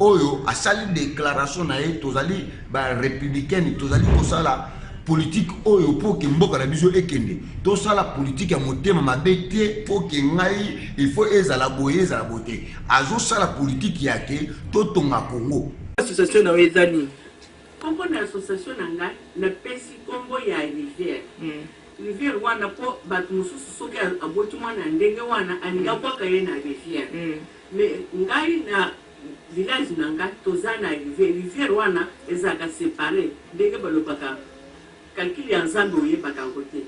oyo asali declaration na ye tozali ba républicaine tozali kosala politike oyo mpo ke mboka na biso ekende tosala politike ya motema mabe te mpo ke ngai ifo ezala boye ezala boye te azosala politike ya ke totonga kongo association na yo eza nini nkombo na association na ngai napesi nkombo ya rivière mm. rivière wana mpo bato mosusu soki aboti mwana ya ndenge wana alingi abwaka ye na rivière mm. Mais ngai na village na nga toza na rivière rivière wana ezalaka separe ndenge balobaka calcul ya nzambe oyebaka yango te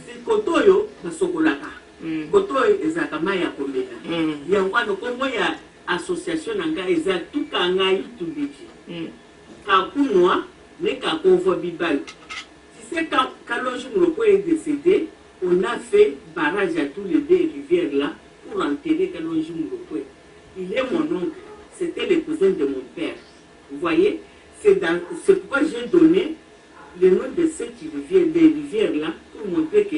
si kote oyo basokolaka kote oyo ezalaka mayi ya komela yango wana kombo ya association na nga eza tukangai tubiki kakunua ne kakonvua bibalu Tu sais quand kalonji mulokola est decede on a fait barrage ya tout les deux rivière là pour enterrer kalonji mulokwe il est mon oncle c'etait le cousin de mon père vous voyez c'est dans c'est pourquoi j'ai donne le nom de cette rivière des rivières là pour montrer que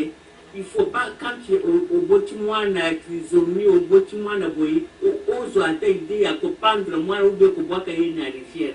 il faut pas quand tu oboti mwana trisomie oboti mwana boye ozwa ata idee ya kopandre mwana ou bien kobwaka ye na rivière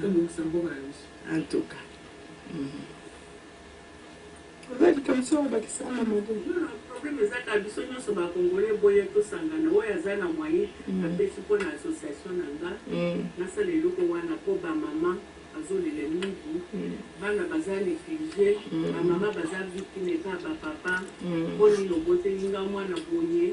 tobongisa mboka na biso en tout cas problème ezaka biso nyonso ba congolais boye tosangana oyo aza na moyen mm. apesi mpo na association na nga mm. nasala eloko wana mpo bamama azolela mingi mm. bana baza néglige bamama baza victime epa bapapa mpo nini oboteli nga mwana boye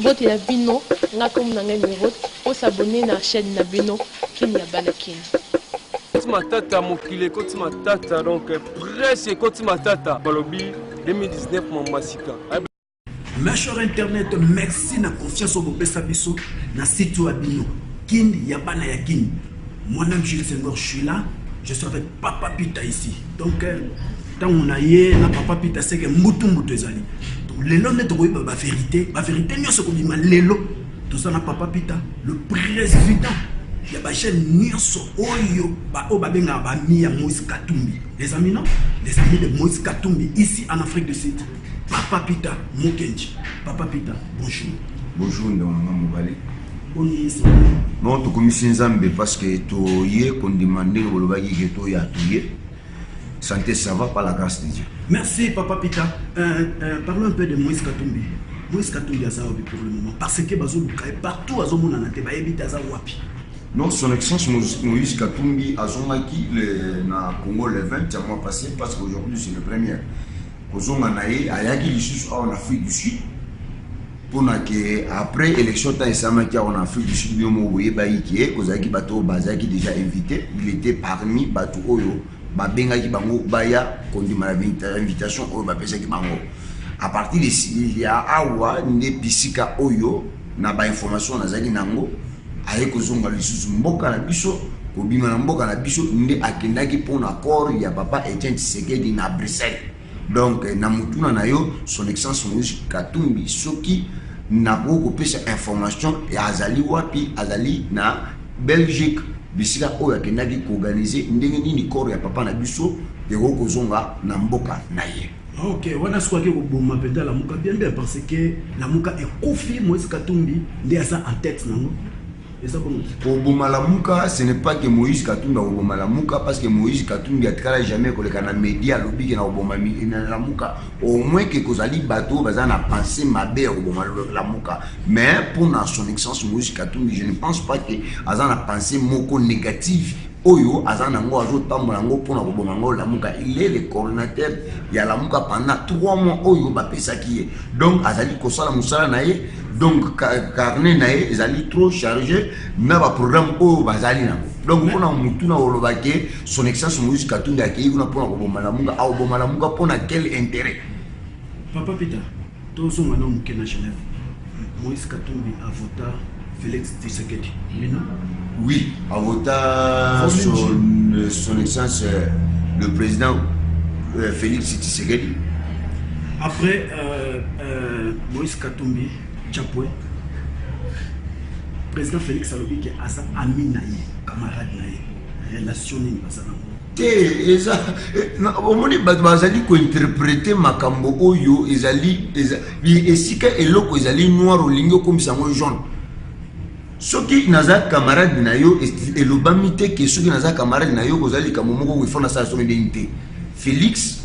Mbote na bino nga kombo na ngai Merod bo s'abonner na chaine na bino kin ya bana kin. Ekoti matata mokili ekoti matata donc presse ekoti matata balobi 2019 mamba sika Ma chère internet, merci na confiance au bopesa biso na site wa bino. Kin ya bana ya kin. Moi-même Jules Senghor, je suis là. Je suis avec Papa Pita ici. Donc euh, ntango na ye na papa peter seke mbutu mbutu ezali lelo nde tokoyeba baverité baverité nyonso ekobima lelo toza na papa peter le président ya bajeune nyonso oyo baoyo babengaka bami ya moïse katumbi les amis non les amis de moïse katumbi ici en afrique du sud papa peter mokenji papa peter bonjour bonjour ndonganga mobali non tokomisi nzambe parce que toye kondima ndenge bolobaki ke toya toye Santé ça va par la grâce de Dieu. Merci papa Pita. Euh, euh, parlons un peu de Moïse Katumbi. Moïse Katumbi aza wapi pour le moment parce que bazo luka et partout azo mona na te ba yebita aza wapi. Non, son excellence Moïse Katumbi azongaki le na Congo le 20 ya mois passé parce qu'aujourd'hui c'est le premier. Kozonga na ye ayaki lisusu awa na Afrique du Sud mpona ke après élection ntango esalamaki yango na afrique du sud bino moko boyebaki ke kozalaki bato oyo bazalaki déjà invité il était parmi bato oyo babengaki bango baya kondima na invitation oyo bapesaki bango à partir de ya awa nde bisika oyo na bainformation nazalaki na yango aye kozonga lisusu mboka na biso kobima na mboka na biso nde akendaki mpo na corps ya papa etienne tshisekedi na bruxelles Donc na mutuna na yo son excellence Moïse Katumbi soki nakoki kopesa information ya azali wapi azali na Belgique bisika oyo akendaki koorganize ndenge nini corps ya papa na biso ekoki kozonga na mboka na ye ah, ok wana soki koboma mpenza lamuka bien bien parce que lamuka ekufi Moïse Katumbi nde aza en tête nango koboma lamuka ce n'est pas que moïse katumbi akoboma lamuka parce que moïse katumbi atikala jamais koleka na media alobi ke na koboma na lamuka au moins ke kozali bato oyo baza na pensée mabe ya koboma lamuka mais mpo na son excellence moïse katumbi je ne pense pas ke aza na pensée moko négative oyo aza na yango azotambola yango mpo na koboma yango lamuka il est le coordinateur ya lamuka pendant 3 mois oyo bapesaki ye donc azali kosala mosala na ye donc carnet na ye ezali trop charge na baprogramme oyo bazali nango donc mpona motu na koloba ke son excellence moïse katumbi akei kuna mpona koboma lamuka akoboma lamuka mpona quel intérêt papa peter tozonga na moke na genève moïse katumbi avota félix tisekedi bino oui avota son, euh, son excellence euh, le président euh, félix tisekedi après euh, euh, Moïse Katumbi Chapwe président Félix alobi ke aza ami na ye camarade na ye relation nini baza nango te eza omoni bato bazali kointerprete makambo oyo ezali esika eloko ezali noir olingi okomisa yango jaune soki naza camarade na yo elobami te ke soki naza camarade na yo kozali likambo moko oyo ifo nasala soki ndenge te félix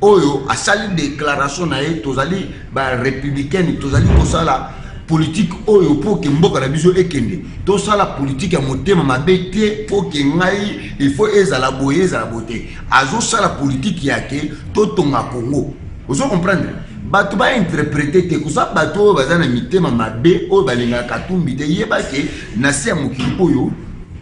oyo asali declaration na ye tozali ba républicaine tozali kosala politike oyo mpo ke mboka na biso ekende tosala politike ya motema mabe te mpo ke ngai ifo ezala boye ezala boye te azosala politike ya ke totonga kongo ozo comprendre bato bainterprete te koza bato oyo baza na mitema mabe oyo balingaka katumbi te yeba ke na se ya mokili oyo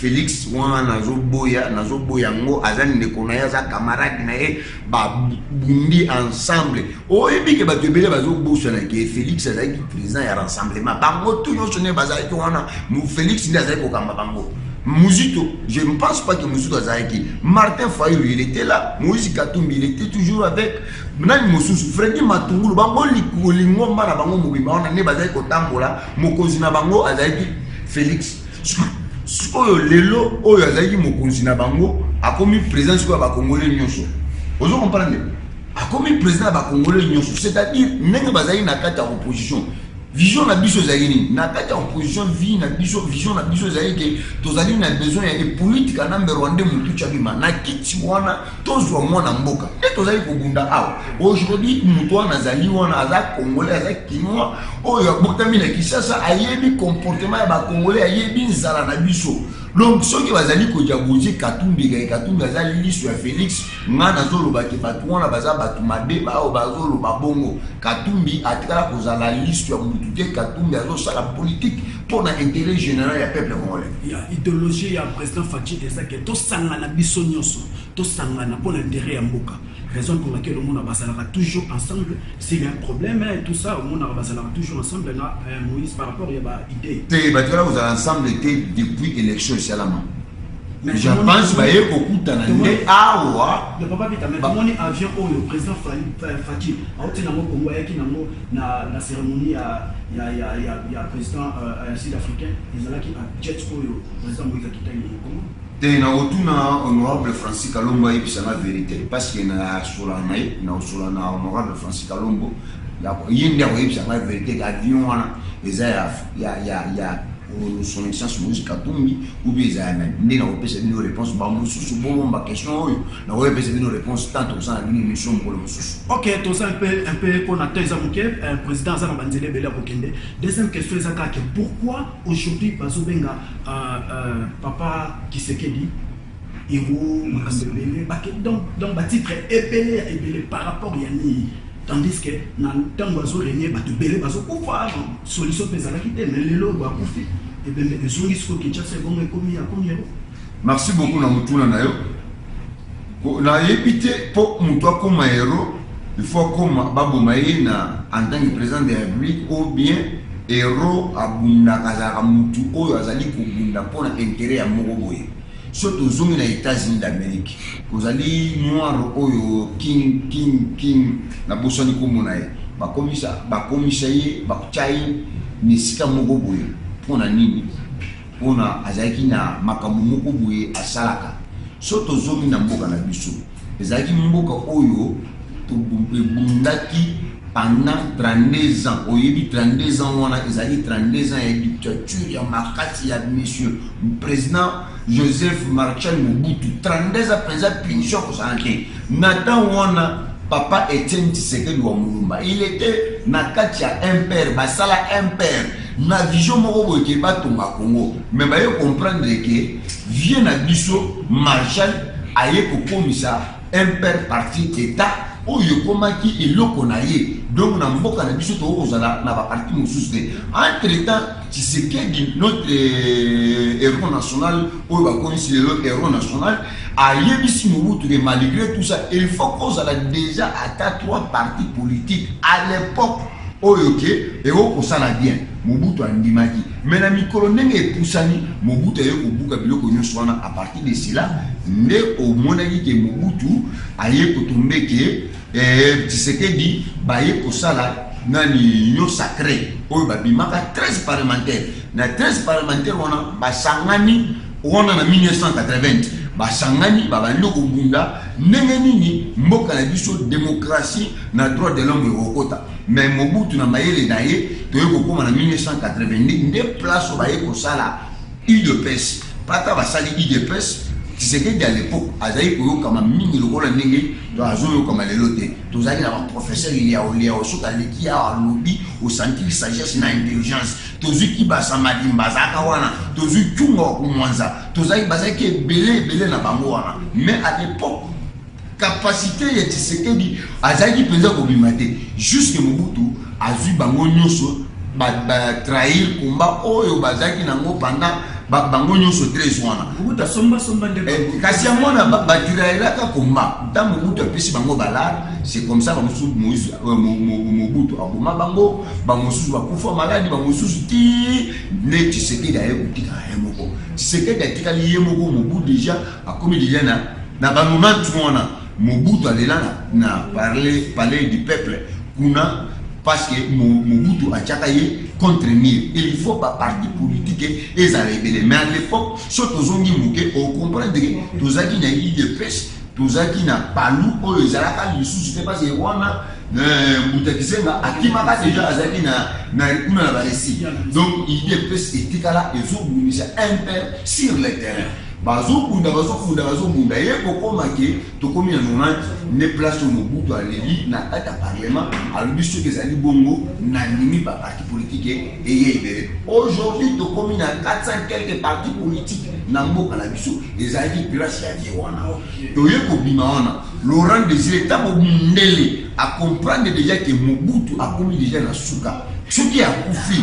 Felix wana nazo boya nazo boya ngo aza ndeko na ye aza camarade na ye ba bundi ensemble oyebi ke bato ebele bazo bosana ke Felix azalaki président ya rassemblement bango tout nyonso ne bazalaki wana Felix nde azalaki kokamba bango Muzito, je ne pense pas que Muzito Azaki. Martin Fayulu, il était là. Moïse Katumbi, il était toujours avec. Nani Mosusu, Freddy Matungulu, bango lingomba na bango mobimba wana ne bazali kotambola, mokonzi na bango azalaki Félix. sikoyo lelo oyo azalaki mokonzi na bango akomi président sikoyo ya bakongole nyonso ozo comprendre akomi président ya bakongole nyonso c'est-à-dire ndenge bazali na kati ya opposition vision na biso ezali nini na kati ya opposition vie na biso vision na biso ezali ke tozali na besoin ya epolitika na mberwande motu chabima na kiti wana tozwa mwana mboka nde tozali kobunda awa aujourd'hui moto wana azali wana aza congolais aza kinois oyo abotami na kisasa ayebi comportement ya bacongolais ayebi nzala na biso donc soki bazali kodiaboze katumbi kake katumbi aza liso ya félix ngai nazoloba ke bato wana baza bato mabe baoyo bazoloba bongo katumbi atikala kozala liso ya motu te katumbi azosala politike mpo na intérêt général ya peuple congolais ya idéologie ya président fatshi eza ke tosangana biso nyonso tosangana mpo na intérêt ya mboka raison pour laquelle omona bazalaka toujours ensemble s'il y a un problème et tout ça omonaka bazalaka toujours ensemble na euh, moïse par rapport ya baidée te batikala kozala ensemble te depuis élection esalama je pense baye kokutana nde awa papa pita tomoni avion oyo président fati auti nango kongo ayaki nango Na ceremonie ya president sud africain ezalaki na jet oyo president Moise akitaki na Congo. Te nakotuna honorable Francis Kalombo ayebisa na verite parce que na sola na ye na sola na honorable Francis Kalombo ye nde akoyebisa ngai verite ke avion wana eza ya ya ya son excellence moïse katumbi oubien eza ya nani nde nakopesa bino réponse bamosusu bomomba question oyo nakoyepesa bino réponse tant tozala bino émission mokolo mosusu ok toza mpe mpe mpo na temps eza moke euh, président aza na banzela ebele ya kokende deuxième question eza kake pourquoi aujourd'hui bazobenga euh, euh, papa kisekedi Irumu na sebene bake donc donc ba titre ebele ya ebele par rapport ya nini tandis que na ntango azo renie bato ebele bazokufa solution mpe ezalaki te mais lelo bakufi ebembe ezongi sikoyo kinshasa ebongo ekomi ya komi yango merci beaucoup na motuna na yo nayebi te mpo moto akoma hero il faut akoma baboma ye na en tant que président de la république ou bien hero abundaka azalaka motu oyo azali kobunda mpo na intérêt ya moko boye Soki tozongi na Etats-Unis d'Amerique, kozali noir oyo king king king na bosani kombo na ye, bakomisa bakomisa ye bakotia ye na esika moko boye mpo na nini? Mpo na azalaki na makambo moko boye asalaka. Soki tozongi na mboka na biso. Ezalaki mboka oyo ebundaki pendant 32 ans. Oyebi 32 ans wana ezali 32 ans ya dictature ya makasi ya monsieur président Joseph Marcel Mobutu. 32 ans penza punition kosala te. Na temps wana papa Etienne Tshisekedi wa Mulumba, il était na kati ya MPR, basala MPR na vision moko boye ke batonga Congo, mais baye comprendre ke Vieux na biso Marshal aye kokomisa MPR parti d'etat oyo ekomaki eloko na ye donc na mboka na biso tokoki kozala na baparti mosusu te entre temps tshisekedi notre euh, héros national oyo bakomisi lelo héros national ayebisi mobutu ke malgré tout ça il faut kozala déjà ata trois parti politique à l'époque oyo ke ekoki kosala bien Mobutu andimaki mais na mikolo ndenge epusani Mobutu aye kobuka biloko nyonso wana a partir de cela nde omonaki ke Mobutu aye kotombe ke eh, Tshisekedi baye kosala nani union sacree oyo babimaka 13 parlementaire na 13 parlementaire wana basangani wana na 1980 basangani babandi kobunda ndenge nini mboka na biso demokrasi na droit de l'homme ekokota Mais Mobutu na mayele na ye toye kokoma na 1982 nde place oyo baye kosala udps pata basali udps Tshisekedi à l'époque azali koyokama mingi lokola ndenge azoyokama lelo te tozali na baprofesseur liao liao soki aleki awa alobi osantili sagesse na intelligence tozwi kibasa madimba azalaka wana tozwi cunga wa kumwanza tozali bazalaki ebele ebele na bango wana mais à l'époque Capacite ya Tshisekedi azalaki penza kobima te jusque Mobutu azui bango nyoso ba, ba trahir combat oyo bazalaki nango pendant ba, bango nyoso 13 wana Mobutu asomba somba nde eh, bango. kasi yango wana ba- batirayelaka komba ntango mobutu apesi bango balare c'est comme ça bamosusu Moïse- euh, Mo- Mo- mobutu aboma bango bamosusu bakufa maladi bamosusu ti nde tisekedi aye kotikala ye moko tisekedi atikali ye moko mobu deja Akomi dejà na na ba moment wana Mobutu alela na parler palais du peuple kuna parce que Mobutu atiaka ye contre mur il faut ba parti politique ezala ebele mais à l'époque so tozongi moke ocomprendre ke tozalaki na idps tozalaki na palu oyo ezalaka lisusu te parce que wana euh, mbuta kisenga akimaka deja azalaki na kuna na baresi donc idps etikala ezobundisa un peu sur le terrain Bazo bunda bazo bunda bazo bunda ye kokoma ke tokomi na 90 nde place oyo Mobutu aleli na kati ya parlement alobi soki ezali bongo na ndimi ba parti politique eye ebele aujourd'hui tokomi na 400 quelques parti politique na mboka na biso ezalaki place ya vie wana toye kobima wana Laurent Desire ntango mundele a comprendre deja ke Mobutu akomi deja na suka soki akufi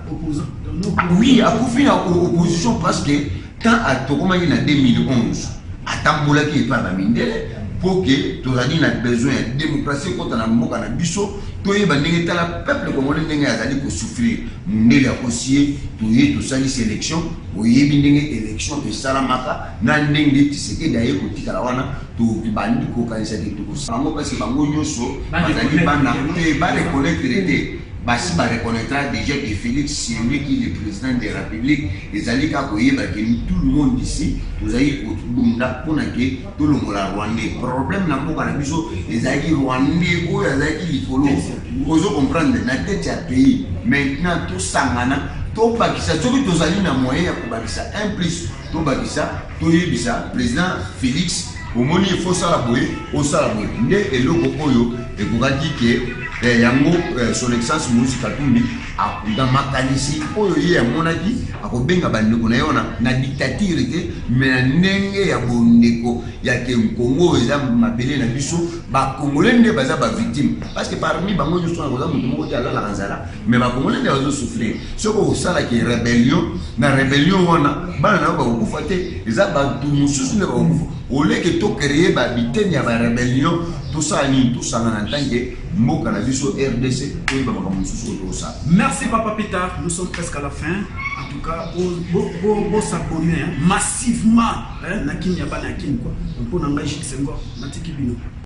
Oui, akufi na opposition parce que quand atokomaki na 2011 atambolaki epai na mindele mpo ke tozali na besoin ya démocratie ekota na mboka na biso toyeba ndenge tala peuple congolais ndenge azali kosouffrir mondele akosi ye toye tosalisi élection oyebi ndenge élection esalamaka na ndenge tisekedi aye kotikala wana tobandi kokanisa te tokosala yango parce bango nyonso bazali bana te bareconnaître te Basi ba reconnaitra dejà que Felix c'est lui qui le president de Republique, ezali kaka koyeba que tout le monde ici tozali kobunda pona que tolongola Rwandais. Problème na mboka na biso ezalaki Rwandais oyo azalaki likolo, ozo comprendre, na tete ya pays. Maintenant tosangana tobakisa soki tozali na moyen ya kobakisa un plus tobakisa toyebisa president Felix Omoni il faut sala boye osala boye nde eloko oyo ekokaki ke eh, yango eh, son excellence Moïse Katumbi na makanisi oyo ye amonaki akobenga bandeko na ye wana na dictature te me na ndenge ya bondeko ya ke nkongo eza mabele na biso bakongole nde baza bavictime parce que parmi bango nyonso wana koza moto moko te alalaka nzala mais bakongole nde bazo souffrir soki osalaki rebellion na rebellion wana bana na yo bakokufa te eza bato mosusu nde bakokufa oleke to créer babitene ya barebellion tosala nini tosangana ntanke mboka na biso rdc toyeba makambo mosusu oyo tokosala merci papa peter nous sommes presque à la fin en tout cas bosabone massivement na kini ya bana ya kini kua mpo na ngai jiksengo natiki bino